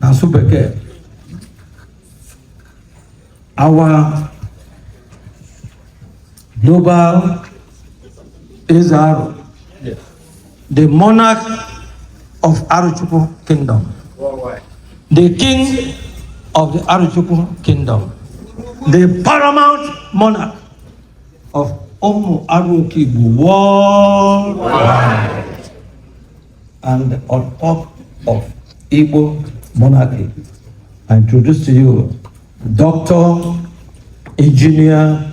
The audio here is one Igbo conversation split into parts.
n'asụ bekee our global Eze Arọ the monarch of Arochukwu kingdom the king of the Arochukwu kingdom the paramount monarch of ụmụ Aro Okeigbo worldwide And on top of Igbo monarchy, I introduce to you Dr. Engineer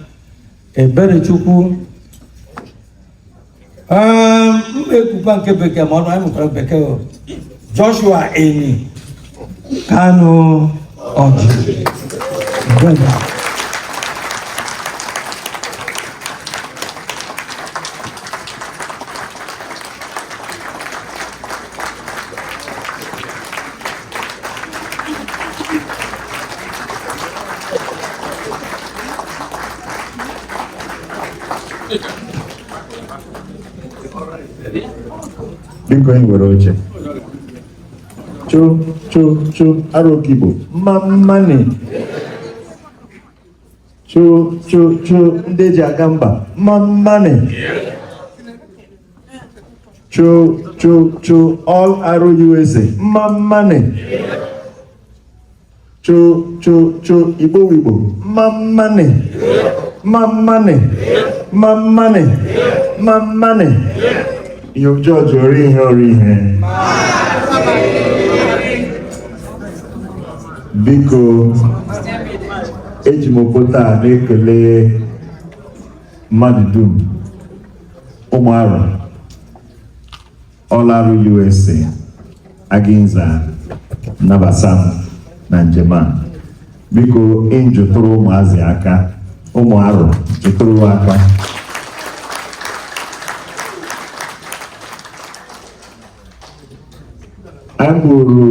Eberechukwu um, ekwukwa nke bekee ma ọnụ anyị mụtara bekee o. Joshua Eni Kanu Ọjị Biko e nwere oche cho cho cho arokigbo mma mmani cho cho cho ndị eji aga mba mma mmani cho cho cho all arụ usa mma mmani cha cha cha Igbo Igbo mmammanị mmammanị mmammanị mmammanị ihe ọjọọ ji ọrụ ihe ọrụ ihe biko eji m okwute a na-ekele mmadụ dum ụmụ Arọ All Aro USA Aginza nabasa m na njem a biko enyi kụtụrụ ụmụazị aka ụmụ Arọ kụtụrụ aka anyị bụrụ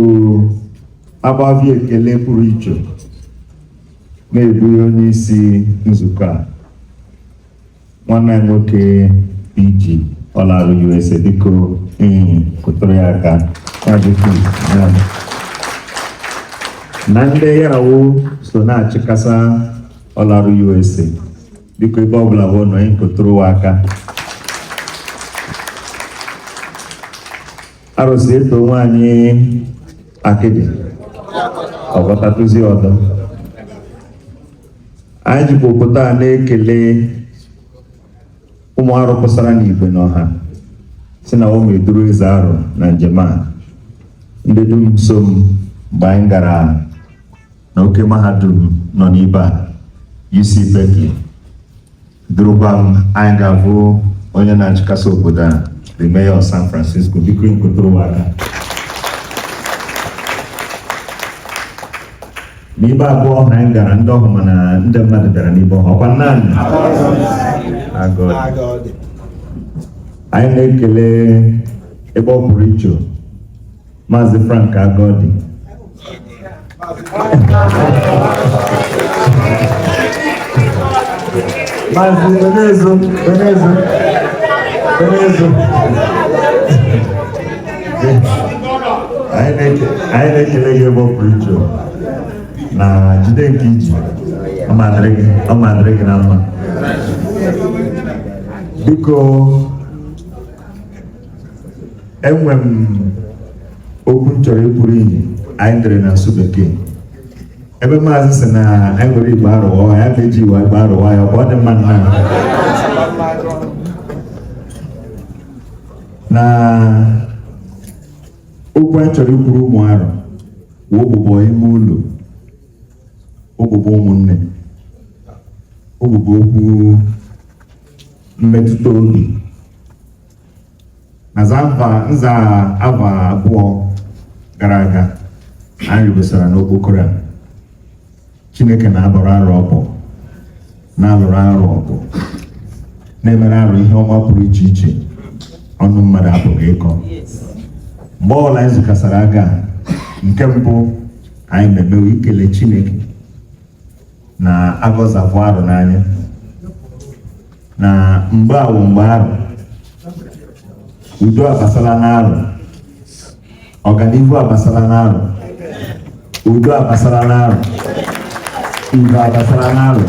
agbavi ekele pụrụ iche na-eburu onye isi nzukọ a nwanne anyị nwoke iji All Aro USA biko enyi kụtụrụ ya aka ya bụ Keith, ya. na ndị ya ra wo so na-achịkasa All Aro USA biko ebe ọbụla wo nọ enyi kụtụrụ wa aka Arọ sị e too nwaanyị akịdị ọ gwọtatụzi ọdọ anyị jikwa obodo a na-ekele ụmụ Arọ pụsara n'igwe n'ọha sị na ụmụ eduru Eze Arọ na njem a ndị dum so m mgbe anyị gara n'oke mahadum nọ n'ibe a UC Berkeley durukwa m anyị ga-avụ onye na-achịkasị obodo a the mayor of San Francisco biko nkụtụrụ aka n'ibe abụọ ọhụ anyị gara ndị ọhụ mana ndị mmadụ bịara n'ibe ọhụ ọkwa naanị anyị na-ekele ebe ọ pụrụ iche Maazị Frank Agodi Maazị Benezo Benezo Benezo anyị na-ekele gị ebe ọ pụrụ iche na jide nke i ji ọ madịrị gị na mma biko enwe m okwu m chọrọ ikwuru iyi anyị dere na asụ bekee ebe maazị si na anyị were Igbo Arụ wa ya ga-eji iwe Igbo Arụ wa ya ọ dị mma nna na okwu anyị chọrọ ikwuru ụmụ Arụ wụ ụbụbọ ime ụlọ ụbụbọ ụmụnne ụbụbọ okwu mmetụta obi na nza ava abụọ gara aga anyị rụbesara n'okpokoro a chineke na-abọrọ Arụ ọbọ na-alụrụ Arụ ọgụ na-emere Arụ ihe ọma pụrụ iche iche ọnụ mmadụ apụghị ịkọ mgbe ọbụla anyị zukasara aga nke mbụ anyị na-eme wụ ikele chineke na aga ọ za avụ Arụ n'anya na mgbe a wụ mgbe Arụ udo abasala n'Arụ ọganihu abasala n'Arụ udo abasala n'Arụ udo abasala n'Arụ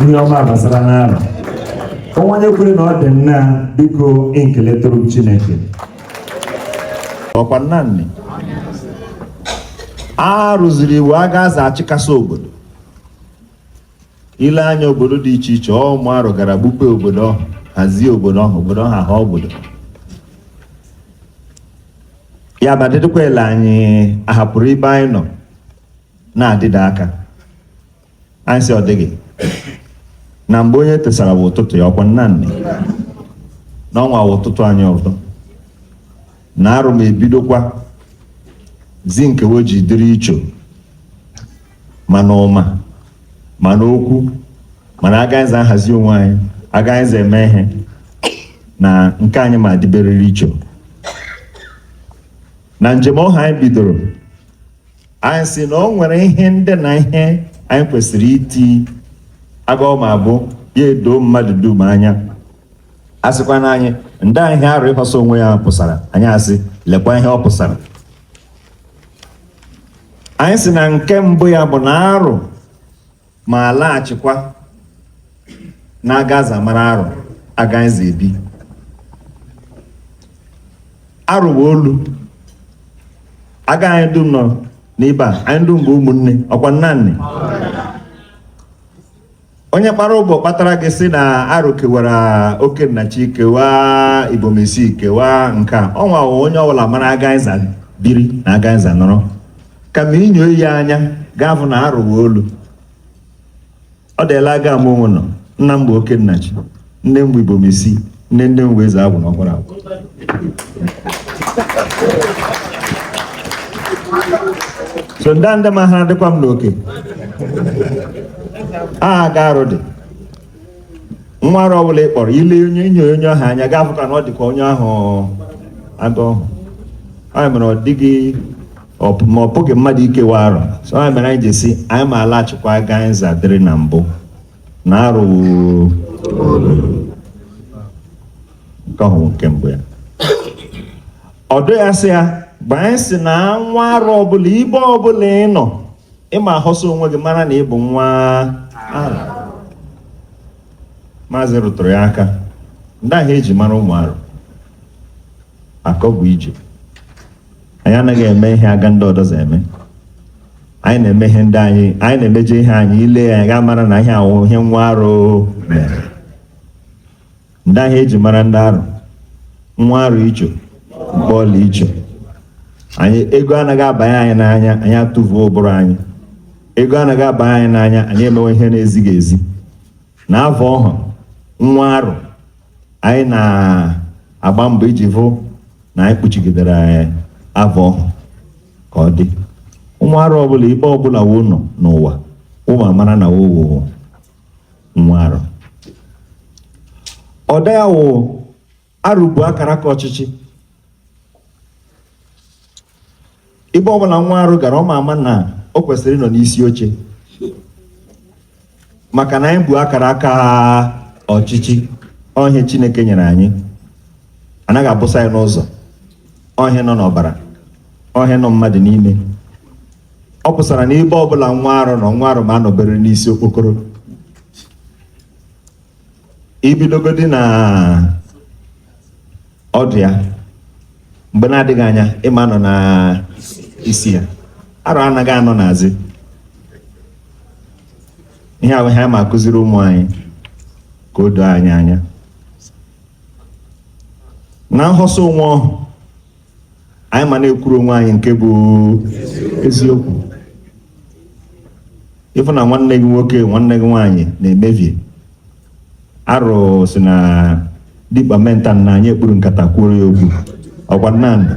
ihe ọma abasala n'Arụ o nwee onye kwere na ọ dị nna biko nkeletụrụ m chineke ọkwa nnanị Arụ ziri Igbo aga a za achịkasị obodo i lee anya obodo dị iche iche ọ ụmụ Arụ gara gbupe obodo ọhụ hazie obodo ọhụ obodo ọhụ ahụ obodo ya bụ adịdịkwa ele anyị ahapụrụ ibe anyị nọ na-adịda aka anyị sị ọ dịghị na mgbe onye tesara wụ ụtụtụ ya ọkwa nnanị na ọnwa wụ ụtụtụ anyị ọzọ na Arụ ma ebidokwazi nke we ji dịrị iche ma n'ụma ma n'okwu ma n'aga anyị za ahazi onwe anyị aga anyị za eme ihe na nke anyị ma dịberịrị iche na njem ọha anyị bidoro anyị si na o nwere ihe ndị na ihe anyị kwesịrị iti aga ọ ma abụ ya edoo mmadụ dum anya a sịkwa na anyị ndaa ihe arụ ịhọsa onwe ya pụsara anyị asị lekwa ihe ọ pụsara anyị si na nke mbụ ya bụ na arụ ma alaghachikwa na aga a za mara arụ aga anyị za ebi arụ bụ olu aga anyị dum nọ n'ibe anyị dum bụ ụmụnne ọkwa nna nne onye kpara ụbọ kpatara gị si na arụ kewara okennachi kewaa ibom isii kewaa nke a ọnwa wụ onye ọbụla mara aga anyị za biri na aga anyị za nọrọ kama inyo iyi anya ga-afụ na arụ wụ olu ọ dịla aga mụ nwa nọ nna m bụ okennachi nne m bụ ibom isii nne nne m bụ eze agwụ na ọkwara agwụ so ndị ndị ma ha dịkwa m n'oke aha aga arụ dị nwa arụ ọbụla ị kpọrọ ile onye inyo onye ahụ anya ga-afụ ka na ọ dịkwa onye ahụ aga ọhụ ya mere ọ dịghị ọ- ma ọ bụghị mmadụ ikewa arụ so ya mere anyị ji si anyị ma alaghachikwa aga anyị za dịrị na mbụ na arụ nke ahụ wụ nke mbụ ya ọdụ ya sị ya mgbe anyị si na nwa arụ ọbụla ibe ọbụla ị nọ ị ma ahọsa onwe gị mara na ị bụ nwa arụ maazị rụtụrụ ya aka ndaa ihe eji mara ụmụ arụ akọ bụ ije anyị anaghị eme ihe aga ndị ọdọzọ eme anyị na-eme ihe ndị anyị anyị na-emeje ihe anyị ile ya anya ga-amara na ihe a wụ ihe nwa arụ mere ndaa ihe eji mara ndị arụ nwa arụ icho mkpọọla icho anyị ego anaghị abanye anyị n'anya anyị atụvuo ụbụrụ anyị ego anaghị abanye anyị n'anya anyị emewe ihe na-ezighị ezi na ava ọha nwa arụ anyị na-agba mbọ iji hụ na anyị kpuchigidere ava ọha ka ọ dị nwa arụ ọbụla ibe ọbụla wo nọ n'ụwa ị ma amara na wo wụ nwa arụ ọda ya wụ arụ bụ akara aka ọchịchị ebe ọbụla nwa arụ gara ọ ma ama na o kwesịrị ịnọ n'isi oche maka na anyị bụ akara aka ọchịchị ọ ihe Chineke nyere anyị anaghị abụsa ya n'ụzọ ọ ihe nọ n'ọbara ọ ihe nọ mmadụ n'ime ọ pụsara na ebe ọbụla nwa arụ nọ nwa arụ ma anọbere n'isi okpokoro i bidogodi na ọdụ ya mgbe na-adịghị anya ị ma anọ na isi ya arụ anaghị anọ n'azị ihe a wụ ihe a ma akụziri ụmụ anyị ka o doo anyị anya na nhọsọ onwe ọhụ anyị ma na-ekwuru onwe anyị nke bụ eziokwu ị fụ na nwanne gị nwoke nwanne gị nwaanyị na-emebi arụ si na dikpa mental na anyị ekpuru nkata kwuoro ya okwu ọkwa nnamdị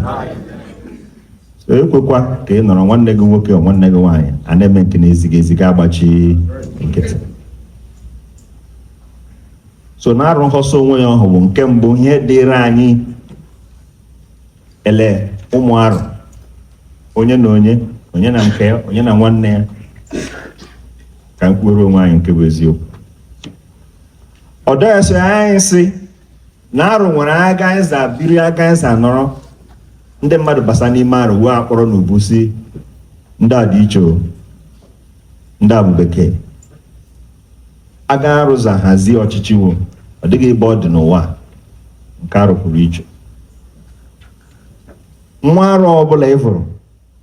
so ekwekwa ka ị nọrọ nwanne gị nwoke nwanne gị nwaanyị a na-eme nke na-ezighị ezi gị agbachi nkịtị so na arụ nhọsọ onwe ya ọhụ bụ nke mbụ ihe dịịrị anyị ele ụmụ arụ onye na onye onye na nke ya onye na nwanne ya ka anyị kwuoro onwe anyị nke bụ eziokwu ọ dọghịsị anyị sị na arụ nwere aga anyị za biri aga anyị za nọrọ ndị mmadụ basa n'ime arụ wee akpọrọ n'ubu si ndị a dị iche o, ndị a bụ bekee aga arụ za hazie ọchịchị wo ọ dịghị ebe ọ dị n'ụwa a, nke arụ pụrụ iche nwa arụ ọbụla ị fụrụ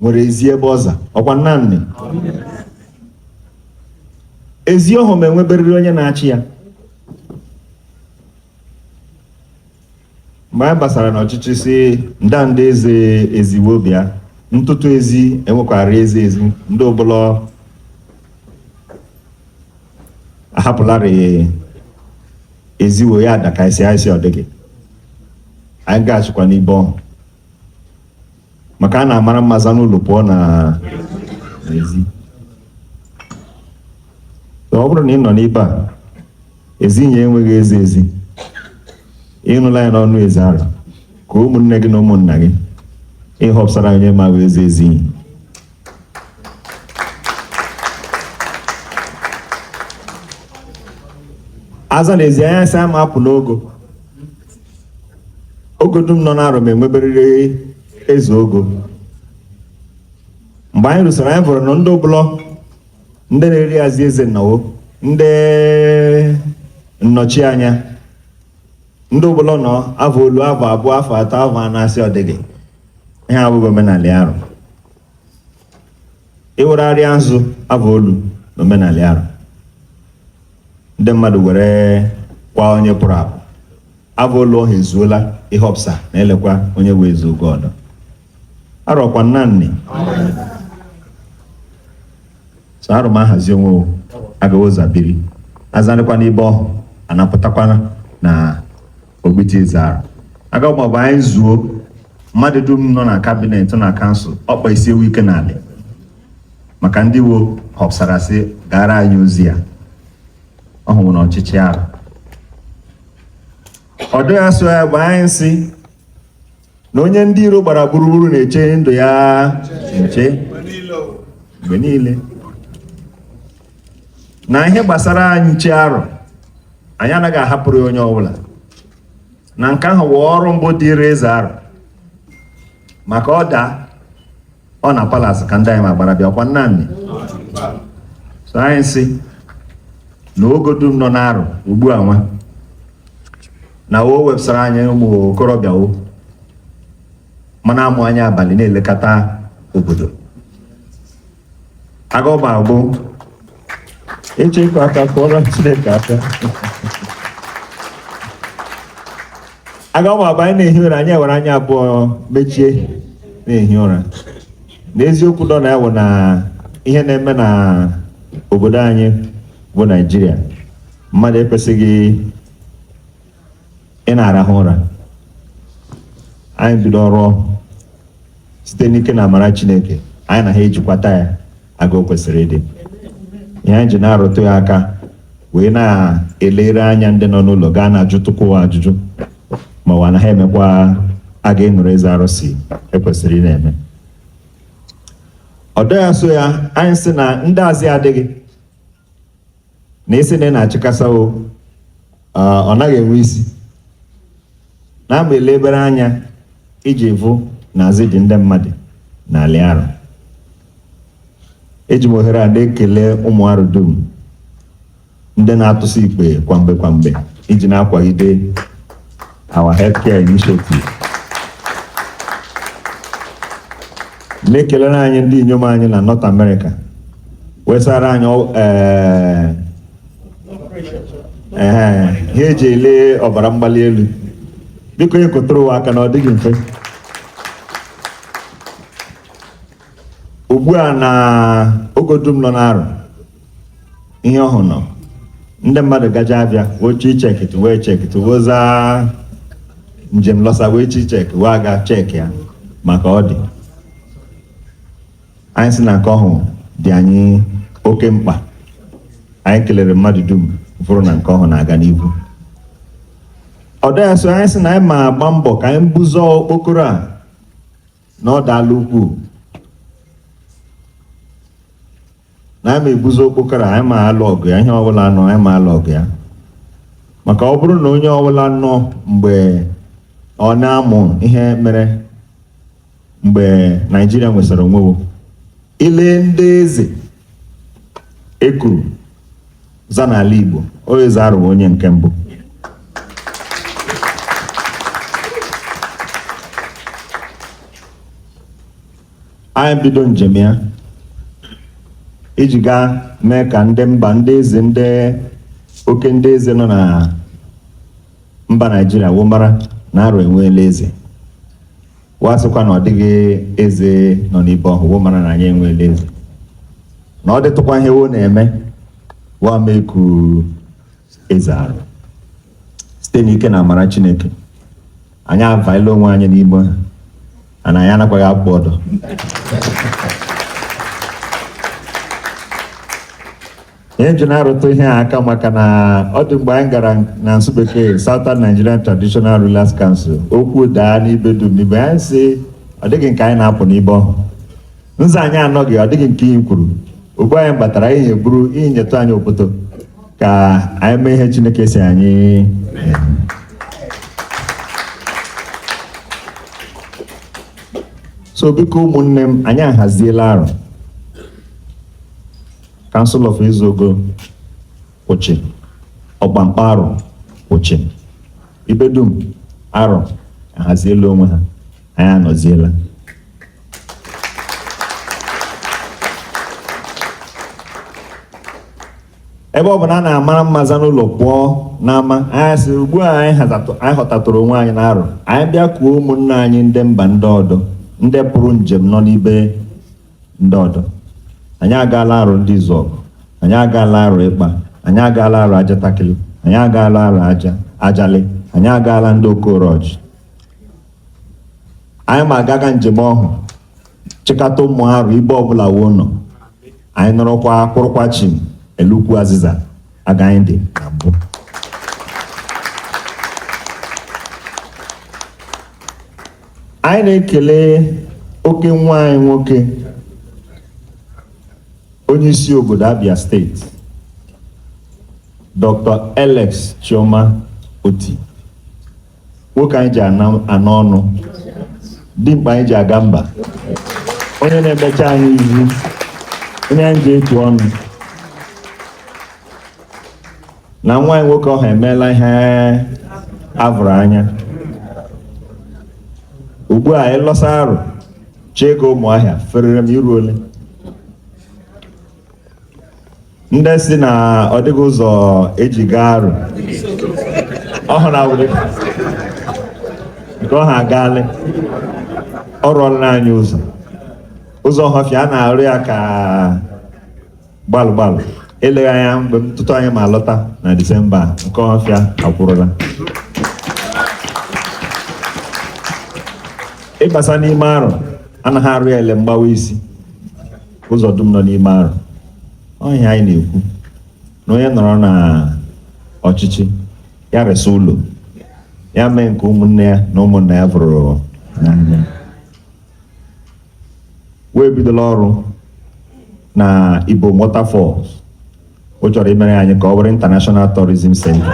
nwere ezi ebe ọ za ọkwa nnamnị ezi ọhụm enweberịrị onye na-achị ya mgbe anyị basara n'ọchịchị si ndanda eze ezi wo bịa n'ọtụtụ ezi enwekwara eze ezi ndị ụbụlọ ahapụlarị ezi wo ya adị ka isi anyị si ọ dịghị anyị gaghachikwa n'ibe ọhụ maka a na-amara mma za n'ụlọ pụọ na ezi So, ọ bụrụ na ị nọ n'ebe a ezinye enweghị eze ezi ị nụla ya n'ọnụ eze arụ ka ụmụnne gị na ụmụnna gị họpụsara onye ma abụ eze ezi ihe a za na ezi anya sị a ma apụ n'ogo ogo dum nọ n'Arọ m enweberịrị eze ogo mgbe anyị rusara anyị vụrụ na ndị ụbụlọ ndị na-eri azị eze nnawo ndị nnọchi anya ndị ụbụlọ nọ afọ olu afọ abụọ afọ atọ afọ anọ a sị ọ dịghị ihe abụghị omenala Arọ ịwụrarịa nzu afọ olu na omenala Arọ ndị mmadụ were kwa onye pụrụ apụ aga ụlọ ọha ezuola ịhọpụsa na elekwa onye wee zuo ogo ọdọ Arọ ọkwa nnanni so Arọ ma ahazi onwe wo agaghị ụzọ biri azị adịkwa n'ibe ọhụ anapụtakwana na Ogbiti zara aga ọ ga-abụ anyị zuo mmadụ dum nọ na kabinet na kansụl ọkpa isi ewu ike n'ala maka ndị wo họpụsara sị gara anyị ozi ya ọ hụrụ na ọchịchị Arọ ọdụ ya so ya bụ anyị sị na onye ndị iro gbara gburugburu na-eche ndụ ya nche mgbe niile na ihe gbasara anyị che Arọ anyị anaghị ahapụrụ onye ọbụla na nke ahụ wụ ọrụ mbụ dịrị Eze Arọ maka ọ daa ọ na palas ka ndị anyị ma gbara bịa ọkwa nnanni so anyị sị na ogo dum nọ n'Arọ ugbu a nwa na wo wepụsara anyị ụmụ okorobịa ma na-amụ anya abalị na-elekọta obodo aga ọ ga-abụ ịchọ ịkọ aka kụọrọ Chineke aka aga ọ ga-abụ anyị na-ehi ụra anyị ewere anya abụọ mechie na-ehi ụra n'eziokwu nọ na ya wụ na ihe na-eme na obodo anyị bụ Naịjirịa mmadụ ekwesịghị ịna-arahụ ụra anyị bido ọrụ ọhụ site n'ike na amara Chineke anyị na ha ejikwata ya aga o kwesịrị ịdị ihe anyị ji na-arụtụ ya aka were na-elere anya ndị nọ n'ụlọ gaa na-ajụtụkwa ụwa ajụjụ ma ụwa na ha emekwa aga ịnụrụ Eze Arọ sị e kwesịrị ịna-eme ọdọ ya so ya anyị sị na ndị azị adịghị na isi na ị na-achịkasa o ah, ọ naghị enwe isi na-agba elebere anya iji ịvụ na azị dị ndị mmadụ n'ala Arọ eji m ohere a na-ekele ụmụ Arọ dum ndị na-atụsi ikpe kwamgbe kwamgbe iji na-akwagide our healthcare initiative na-ekelere anyị ndị inyom anyị na North America wesara anyị ọ- ee, ee, ihe eji ele ọbara mgbali elu biko onye kụtụrụ wa aka na ọ dịghị mfe ugbu a na ogo dum nọ n'Arọ ihe ọhụ nọ ndị mmadụ ga-ja abịa wee chọọ ichekịtụ wee chekịtụ wee za njem lọsa wee chọọ ichek wa aga chek ya maka ọ dị anyị si na nke ọhụ dị anyị oke mkpa anyị kelere mmadụ dum fụrụ na nke ọhụ na-aga n'ihu ọdọ ya so anyị si na anyị ma agba mbọ ka anyị buzo okpokoro a na ọ daala ukwuu na anyị ma ebuzo okpokoro anyị ma alụ ọgụ ya ihe ọbụla nọ anyị ma alụ ọgụ ya maka ọ bụrụ na onye ọbụla nọ mgbe ọ na-amụ ihe mere mgbe Naịjirịa nwesara onwe wo Ile ndị eze e kuru za n'ala Igbo ọ Eze Arọ wụ onye nke mbụ anyị bido njem a iji gaa mee ka ndị mba ndị eze ndị oke ndị eze nọ na mba Naịjirịa wo mara na Arọ enweela eze wa asịkwa na ọ dịghị eze nọ n'ibe ọhụ wo mara na anyị enweela eze na ọ dịtụkwa ihe wo na-eme wa ma eku Eze Arọ site n'ike na amara chineke anyị availa onwe anyị n'ime ha ana anyị anakwaghị apụ ọdọ ihe e ji na-arụtụ ihe a aka maka na ọ dị mgbe anyị gara na nsụ bekee Southern Nigerian Traditional Rulers Council okwu daa n'ibe dum n'ibe anyị si ọ dịghị nke anyị na-apụ n'ibe ọhụ nza anyị anọghị ọ dịghị nke anyị kwuru ugbu a anyị batara anyị na-eburu iyi nyetụ anyị obodo ka anyị mee ihe Chineke si anyị so biko ụmụnne m anyị ahaziela Arọ Council of Eze Ogo kwụ chịm Ọkpankpọ Arọ kwụ chịm ibe dum Arọ ahaziela onwe ha anyị anọziela ebe ọ bụ na a na-amara mma za n'ụlọ pụọ n'ama anyị sị ugbu a anyị hazatụ- anyị họtatụrụ onwe anyị n'Arọ anyị bịa kuo ụmụnna anyị ndị mba ndị ọdọ ndị pụrụ njem nọ n'ibe ndị ọdọ anyị agaala arụ ndị izuọgụ anyị agaala arụ ịkpa anyị agaala arụ ajatakịlị anyị agaala arụ ajalị anyị agaala ndị okoroji anyị ma agaga njem ọhụ chịkọta ụmụ arụ ibe ọbụla wo nọ anyị nọrọkwa kwụrụkwa chịm ele ukwu azịza aga anyị dị na mbụ anyị na-ekele oke nwa anyị nwoke onye isi obodo Abia State Dr. Alex Chioma Otti nwoke anyị ji anọ ọnụ dimkpa anyị ji aga mba onye na-emecha anyị ihu onye anyị ji etu ọnụ na nwa anyị nwoke ọha emeela ihe a vụrụ anya ugbu a anyị lọsa arụ chee ka ụmụahịa ferere m iru olee ndị sị na ọ dịghị ụzọ e ji ga arụ ọhụ na awụdị nke ọha agaalị ọ rụọla anyị ụzọ ụzọ ọhafịa a na-arụ ya ka gbalụ gbalụ eleghị anya tutu anyị ma alọta na disemba a, nke ọhafịa akwụrụla ịbasa n'ime arọ a nagha arụ ya ele mgbawa isi ụzọ dum nọ n'ime arọ ọ ihe anyị na-ekwu na onye nọrọ na ọchịchị ya resa ụlọ ya mee nke ụmụnne ya na ụmụnna ya vụrụ n'anya wee bidola ọrụ na Ibom Waterfalls ọ chọrọ imere anyị ka ọ bụrụ International Tourism Center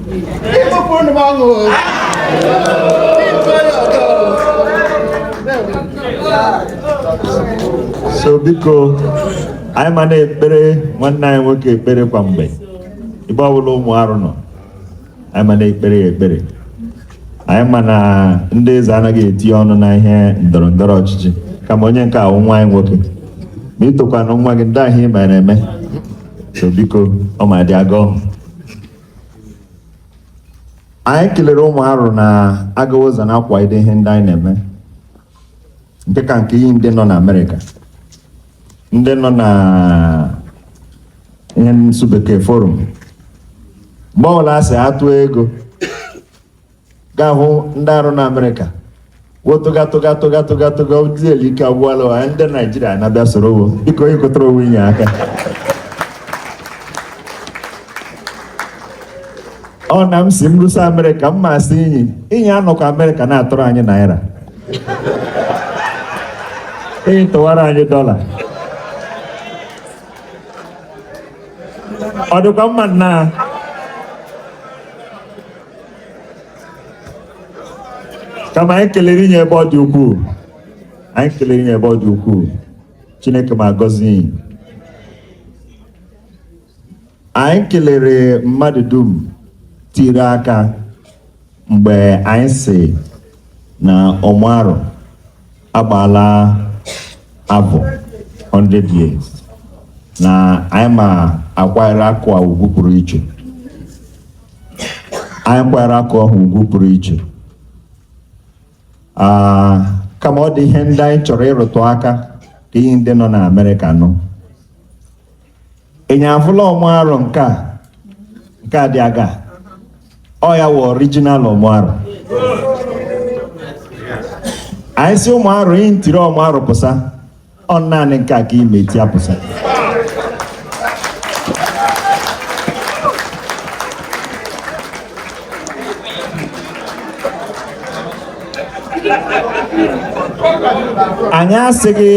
so biko anyị ma na-ekpere nwanne anyị nwoke ekpere kwa mgbe ebe ọbụla ụmụ arụ nọ anyị ma na-ekpere ya ekpere anyị ma na ndị eze anaghị etinye ọnụ na ihe ndọrọ ndọrọ ọchịchị kama onye nke a wụ nwa anyị nwoke ma i tokwanụ nwa gị ndị ahụ ị ma na-eme so biko ọ ma dị aga ọhụ anyị kelere ụmụ arụ na agawa ụzọ na-akwalite ihe ndị anyị na-eme nke ka nke iyi ndị nọ na amerịka ndị nọ na ihe nsụ bekee forum mgbe ọbụla a sị a tụ ego ga-ahụ ndị arọ na amerịka wo tụga tụga tụga tụga tụga ndị ike agwụala ụwa ndị naijiria na-abịa soro wo biko inyi kụtụrụ onwe inyi aka ọ na m si m rusa amerịka m ma sị inyi inyi anọkọ amerịka na-atụrụ anyị naira inyi tụwara anyị dọla ọ dịkwa mma nna kama anyị kelere inyi ebe ọ dị ukwuu anyị kelere inyi ebe ọ dị ukwuu chineke ma agọzi inyi anyị kelere mmadụ dum tiri aka mgbe anyị si na ọmụ arọ agbaala afọ 100 years na anyị ma akwanyere akwa a ugwu pụrụ iche anyị kwanyere akwa ahụ ugwu pụrụ iche Ah, kama ọ dị ihe ndị anyị chọrọ ịrụtụ aka ka inyi ndị nọ na Amerịka nụ Inyi afụla ọmụ arọ nke a nke a dị aga ọ ya wụ original ọmụ arọ anyị sị ụmụ arọ inyi tiri ọmụ arọ pụsa ọ naanị nke a ka ị ma eti apụsa anyị asịghị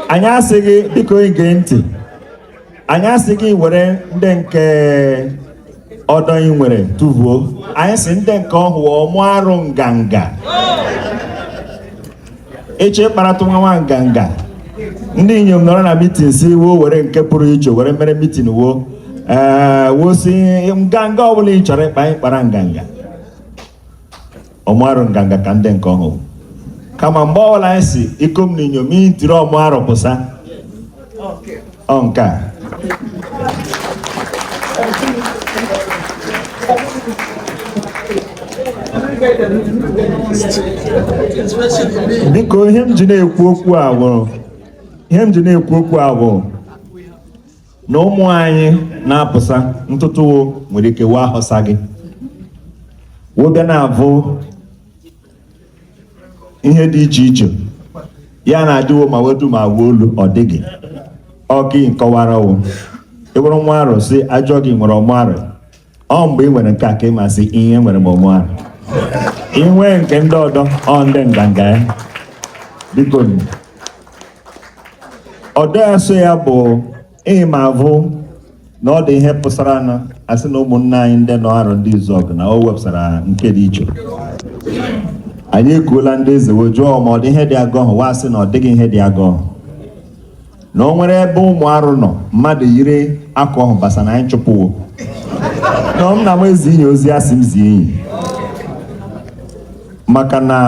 anyị asịghị biko gee ntị anyị asịghị were ndị nke ọdọ ị nwere tụvuo anyị sị ndị nke ọhụụ ọmụ arọ nganga eche ịkparatụ nwa nwa nganga ndị inyom nọrọ na mitin si wo were nke pụrụ iche were mere mitin wo ee wo sị nganga ọbụla ị chọrọ ịkpa anyị kpara nganga ọmụ arọ nganga ka ndị nke ọhụụ kama mgbe ọbụla anyị sị ikom na inyom inyi tiri ọmụ arọ pụsa ọ nke a biko ihe m ji na-ekwu okwu a bụ ihe m ji na-ekwu okwu a bụ na ụmụ anyị na-apụsa ntụtụ wo nwere ike wee ahụsa gị wo bịa na-abụ ihe dị iche iche ya na-adị wo ma wedu ma wuo olu ọ dịghị ọkị akọwara wo ị bụrụ nwa arọ si ajọ gị nwere ọmụ arọ ọ mgbe ị nwere nke a ka ị masị ihe nwere m onwe ahụ inwe nke ndị ọdọ ọ ndị nganga ya biko nụ. ọdọ ya so ya bụ ị ma avụ na ọ dị ihe pụsara na asị na ụmụnne anyị ndị nọ arọndizuọgụ na o wepụsara nke dị iche anyị ekuola ndị eze wee jụọ ma ọ dị ihe dị agọhụ wo asị na ọ dịghị ihe dị agọhụ na o nwere ebe ụmụ arụ nọ mmadụ yiri akwa ọhụ basa na anyị chụpụ wo na m na m ezi inye ozi asị m zie enyi maka na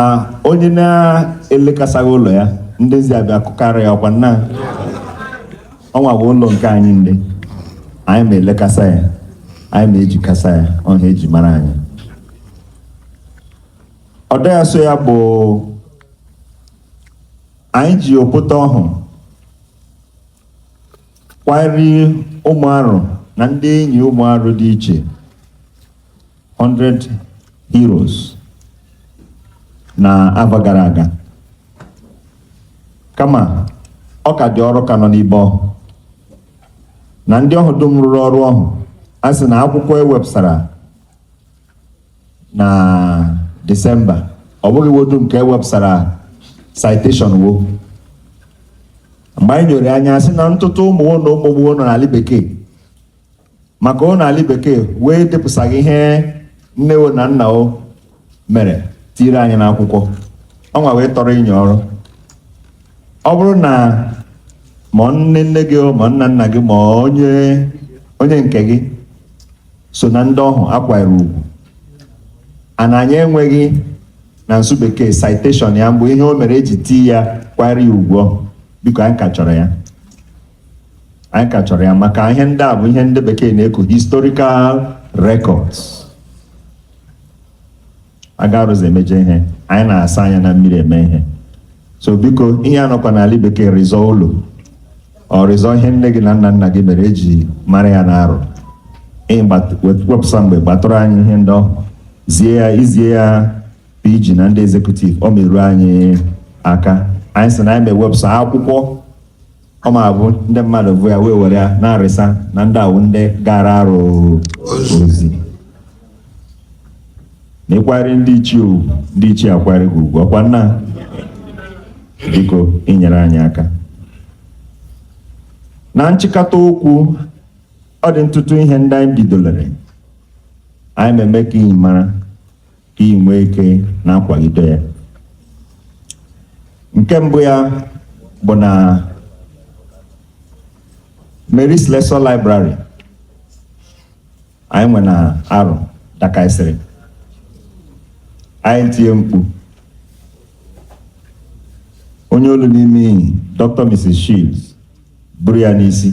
onye na-elekasaghị ụlọ ya ndị ezi abịa kụkara ya ọkwa nna ọnwa bụ ụlọ nke anyị ndị anyị ma elekasa ya anyị ma ejikasa ya ọha eji mara anyị ọdọ ya so ya bụ anyị ji opụta ọhụ kwarie ụmụ arụ na ndị enyi ụmụ arụ dị iche 100 heroes n'ava gara aga kama ọ ka dị ọrụ ka nọ n'ibe ọhụ na ndị ọhụ dum rụrụ ọrụ ọhụ a sị na akwụkwọ ewepụsara na Disemba ọ bụghị wo dum ka ewepụsara citation wo mgbe anyị nyoro anya sị na ntụtụ ụmụ wo na ụmụ ụmụ wo nọ n'ala bekee maka wo nọ ala bekee wo edepụsaghị ihe nne wo na nna wo mere tiire anyị n'akwụkwọ ọnwa wee tọrọ inye ọrụ ọ bụrụ na ma nne nne gị o, ma nna nna gị ma onye onye nke gị so na ndị ọhụ akwara ugwu ana anyị enweghị na nsụ bekee citation ya mbụ ihe o mere eji tii ya kwara ya ugwu ọhụ biko anyị ka chọrọ ya anyị ka chọrọ ya maka ihe ndị a bụ ihe ndị bekee na-eku historical records aga arụ zi emeje ihe anyị na-asa anya na mmiri eme ihe so biko ihe anọkwa n'ala bekee rịzọ ụlọ ọ rịzọ ihe nne gị na nna nna gị mere eji mara ya na arụ wepụsa mgbe gbatụrụ anyị ihe ndị ọhụ zie ya i zie ya PG na ndị executive ọ meruo anyị aka anyị sị na anyị ma ewepụsa akwụkwọ ọ ma abụ ndị mmadụ bụ ya wee were ya na-arịsa na ndị a wụ ndị gaara arụ ozi na ị kwarị ndị ichie ugwu ndị ichie akwarị gị ugwu ọkwa nna? biko inyere anyị aka na nchịkọta okwu ọ dị ntụtụ ihe ndị anyị bidolere anyị na-eme ka ị mara ka ị nwee ike na-akwaido ya nke mbụ ya bụ na Mary Slessor Library anyị nwe na Arụ dakaisịrị anyị tie mkpu onye olu n'ime iyi Dr. Mrs. Shields buru ya n'isi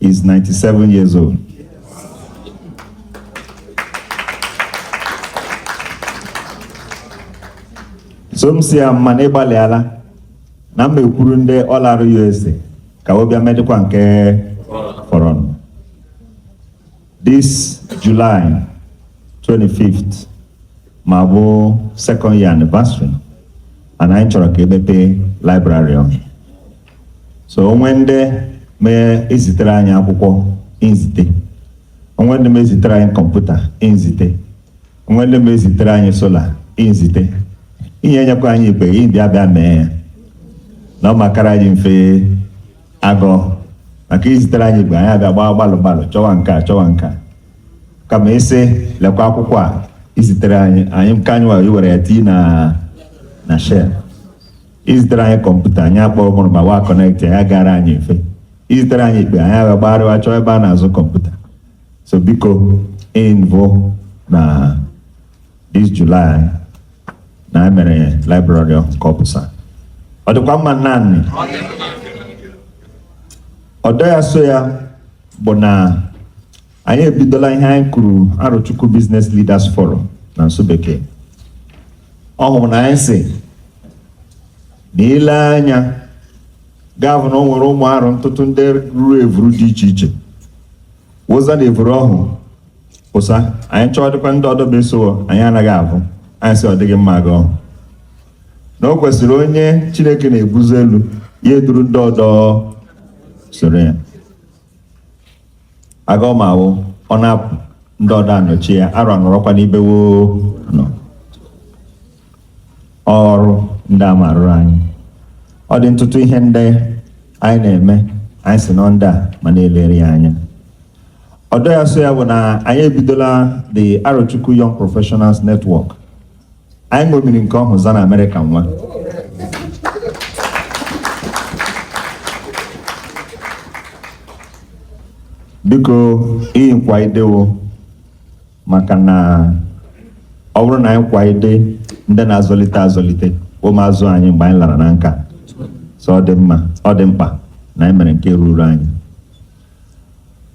is 97 years old. so m sị ya mma na ịgbalịala na m ma ekwuru ndị All Aro USA ka wo bịa medịkwa nke fọrọnụ this July 25th ma bụ second year anniversary and anyị chọrọ ka e mepee library ọhụ so o nwe ndị ma ezitere anyị akwụkwọ nzite o nwe ndị ma ezitere anyị kọmputa nzite o nwe ndị ma ezitere anyị solar nzite iyi enyekwa anyị ikpeghe bịa bịa mee ya na ọ ma akara anyị mfe agọ maka i zitere anyị ikpeghe anyị abịa gbaa gbalụ gbalụ chọwa nke a chọwa nke a kama ị sị lekwa akwụkwọ a i zitere anyị anyị nke anyị were iwere ya tii na na shel i zitere anyị kọmputa anyị akpọrọ ụmụrụma wa connect ya gara anyị mfe i zitere anyị ikpeghe anyị aga gbagharịwa chọọ ebe a na-azụ kọmputa so biko iyi nvụ na this July na anyị mere library ọhụ ka ọ pụsa ọ dịkwa mma n'anya ọdọ ya so ya bụ na anyị ebidola ihe anyị kuru Arochukwu Business Leaders Forum na nsụ bekee ọ hụrụ na anyị sị na i le anya ga-avụ na o nwere ụmụ Arụ ntụtụ ndị ruru evuru dị iche iche wụza na evuru ọhụ pụsa anyị chọọ dịkwa ndị ọdọ ma eso wo anyị anaghị avụ anyị sị ọ dịghị mma aga ọhụ na o kwesịrị onye Chineke na-ebuzi elu ya eduru ndị ọdọ soro ya aga ọ ma awụ ọ na-apụ ndị ọdọ anọchi ya Arụ anọrọkwa n'ibe wo nọ ọrụ ndị a ma arụrụ anyị ọ dị ntụtụ ihe ndị anyị na-eme anyị sị na ọ ndị a ma na-elere ya anya ọdọ ya so ya bụ na anyị ebidola the Arochukwu Young Professionals Network anyị ṅomiri nke ọhụ za na Amerịka nwa biko iyi nkwaide wo maka na ọ bụrụ na anyị kwaide ndị na-azọlite azọlite ụmụazụ anyị mgbe anyị lara na nka so ọ dị mma ọ dị mkpa na anyị mere nke ruru anyị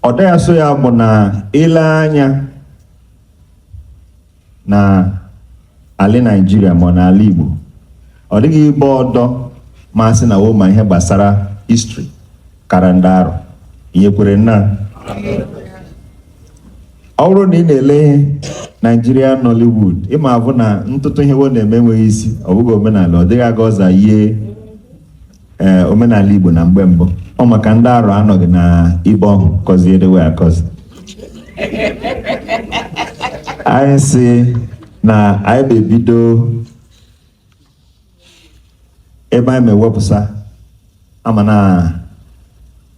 ọdọ ya so ya bụ na i le anya na ala Naịjirịa ma ọ na ala Igbo ọ dịghị ibe ọdọ ma asị na wo ma ihe gbasara history kara ndị Arọ nyekwere nna ọ bụrụ na ị na-ele Nigerian Nollywood ị ma-avụ na ntụtụ ihe wo na-eme enweghị isi ọ bụghị omenala ọ dịghị aga ọ za yie ee omenala Igbo na mgbe mbụ ọ maka ndị Arọ anọghị na ibe ọhụ kọzie edewe akọzi anyị sị na anyị ma-ebido ebe anyị ma-ewepụsa ama na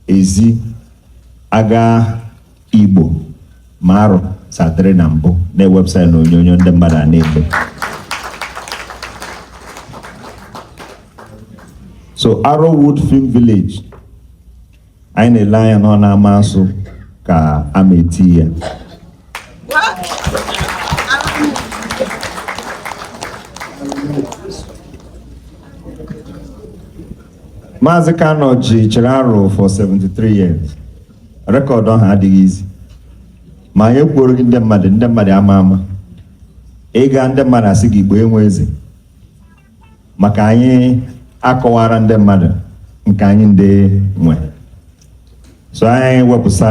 ezi aga Igbo ma Arọ sa dịrị na mbụ na-ewepụsara na onyonyo ndị mmadụ ana-ele so Arowood Film Village anyị na-ele anya na ọ na-ama asụ ka a ma eti ya Maazị Kanu Oji chịrị Arụ for 73 years record ahụ adịghị easy ma anyị ekwuoroghị ndị mmadụ ndị mmadụ ama ama ịga ndị mmadụ asị gị Igbo enwe eze maka anyị akọwara ndị mmadụ nke anyị ndị nwe so anyị wepụsa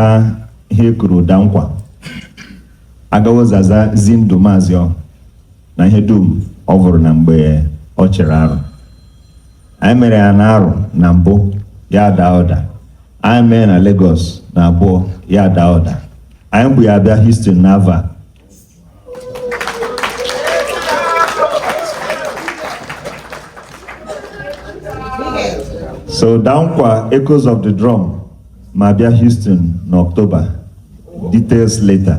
ihe e kuru Ụda Nkwa aga wo zaza zi ndụ maazị ọ na ihe dum ọ vụrụ na mgbe ọ chịrị Arụ anyị mere ya na Arụ na mbụ ya daa ụda anyị mee na Lagos na abụọ ya daa ụda anyị bu ya abịa Houston na avọ a so Ụda Nkwa Echoes of the Drum ma-abịa Houston na October details later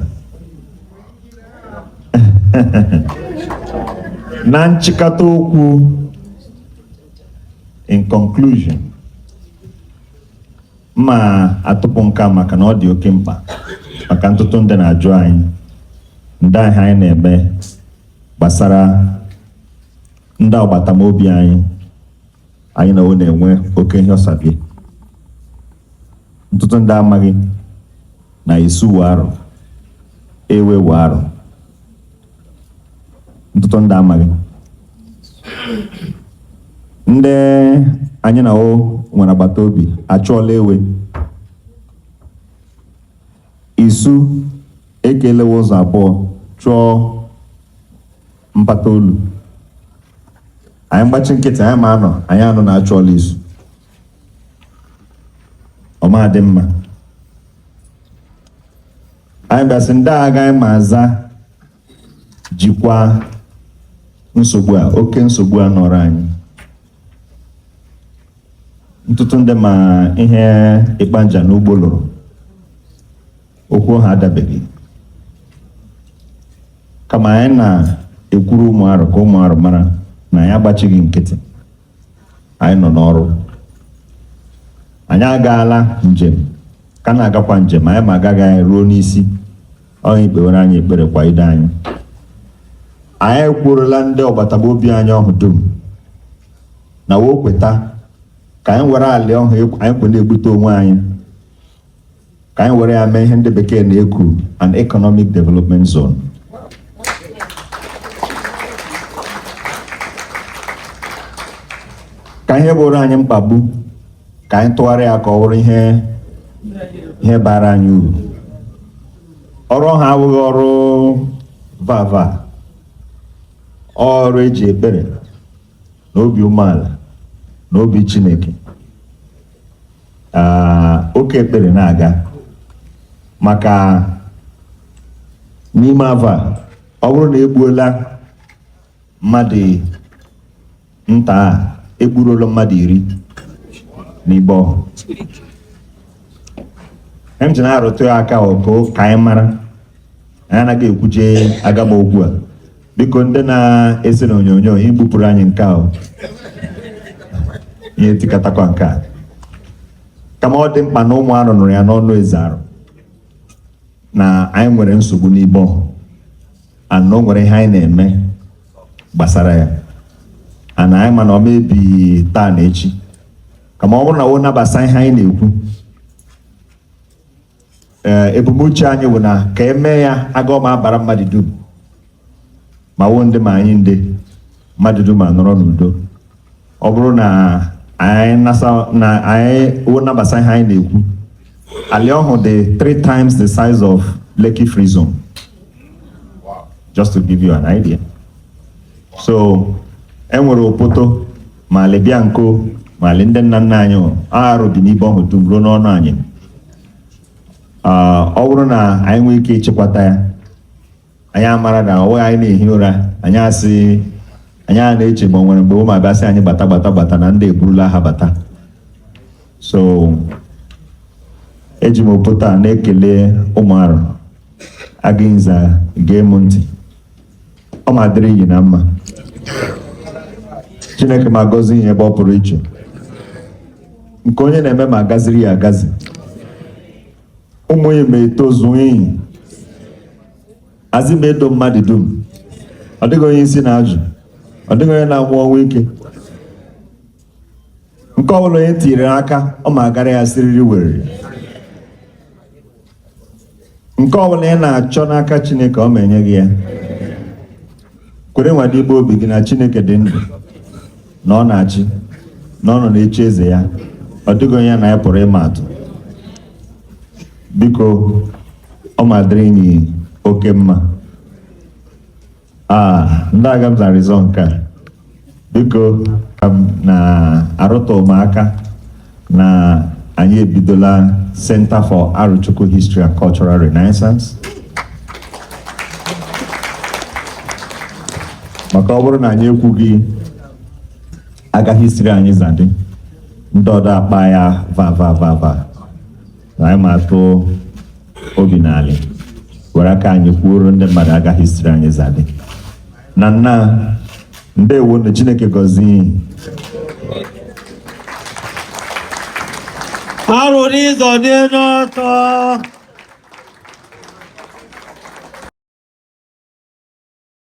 na nchịkọta okwu in conclusion m ma-atụpụ nka maka na ọ dị oke mkpa maka ntụtụ ndị na-ajụ anyị ndị aga anyị na-eme gbasara ndị agbata obi anyị anyị na wo na-enwe oke ihe ọsabie ntụtụ ndị amaghị na Isu wụ Arụ Ewe wụ Arụ ntụtụ ndị amaghị ndị anyị na wo nwere agbata obi achụọla Ewe Isu ekelewe ụzọ abụọ chụọ mpata olu anyị gbachi nkịtị anyị ma anọ anyị anọ na-achụọla Isu ọ ma adị mma anyị bịa sị ndị a gaa anyị ma aza jikwa nsogbu a oke nsogbu a nọrọ anyị ntụtụ ndị ma ihe Ikpanja na Ugbo lụrụ okwu ha adabeghị kama anyị na-ekwuru ụmụ arụ ka ụmụ arụ mara na anyị agbachighị nkịtị anyị nọ n'ọrụ anyị agaala njem ka na-agakwa njem anyị ma agaghị anyị ruo n'isi ọrụ ikpewere anyị ekpere kwa ide anyị anyị ekwuorola ndị agbata obi anyị ọhụ dum na wo kweta ka anyị were alị ọhụ anyị kwe na-egbute onwe anyị ka anyị were ya mee ihe ndị bekee na-ekwu an economic development zone ka ihe bụrụ anyị mkpagbu ka anyị tụgharịa ya ka ọ bụrụ ihe ihe baara anyị uru ọrụ ha abụghị ọrụ vava ọrụ e ji ekpere na obi umeala na obi Chineke Ah, oke ekpere na-aga maka n'ime afọ a ọ bụrụ na egbuola mmadụ nta a egburuola mmadụ iri n'ibe ọhụ m ji na-arụtụ ya aka ọkụ ka anyị mara anyị anaghị ekwuje agama okwu a biko ndị na-ese na onyonyo igbupụrụ anyị nke a o. ihe tikatakwa nke a kama ọ dị mkpa na ụmụ arụ nụrụ ya n'ọnụ eze arụ na anyị nwere nsogbu n'ibe ọhụ and o nwere ihe anyị na-eme gbasara ya and anyị ma na ọ ma ebi taa na echi kama ọ bụrụ na wo nabasa ihe anyị na-ekwu ee ebumnuche anyị bụ na ka e mee ya aga ọ ma abara mmadụ dum ma wo ndị ma anyị ndị mmadụ dum anọrọ n'udo ọ bụrụ na anyị nasa na anyị wo nabasa ihe anyị na-ekwu ali ọhụ dị three times the size of Lekki Free Zone just to give you an idea so e nwere opoto ma alị bịa nko ma alị ndị nna nna anyị o, arụ dị n'ibe ọhụ dum ruo n'ọnụ anyị Ah, ọ bụrụ na anyị nwee ike ịchịkwata ya anyị amara na ọ wụghị anyị na-ehi ụra anyị asaa anya na-eche ma ọ nwere mgbe wo ma abịa sị anyị gbata gbata gbata na ndị eburula aha bata so eji m opoto a na-ekele ụmụ arụ aga unu za gee m ntị ọ ma dịrị inyi na mma chineke ma gọzie inyi ebe ọ pụrụ iche nke onye na-eme ma agaziri ya agazi ụmụ ya ma etozuo inyi azị ma edo mmadụ dum ọ dịghị onye isi na-ajụ ọ dịghị onye na-anwụ ọnwụ ike nke ọ bụla onye tinyere aka ọ ma agara ya siriri werere nke ọbụla ị na-achọ n'aka chineke ọ ma enye gị ya kwere nwada igbe obi gị na chineke dị ndụ na ọ na-achị na ọ nọ n'oche eze ya ọ dịghị onye na ya pụrụ ịma atụ biko ọ ma dịrị inyi oke mma Ah, ndị aga m zarizọ nke a biko ka m na-arụta ụmụaka na anyị ebidola Center for Arochukwu History and Cultural Renaissance maka ọ bụrụ na anyị ekwughị aga history anyị zadị ndị ọdọ akpa ya va va va va na anyị ma atụ obi n'ala were aka anyị kwuoro ndị mmadụ aga history anyị zadị na nna ndewo na chineke gọzie arụ n'ịzọ dị n'ọtọ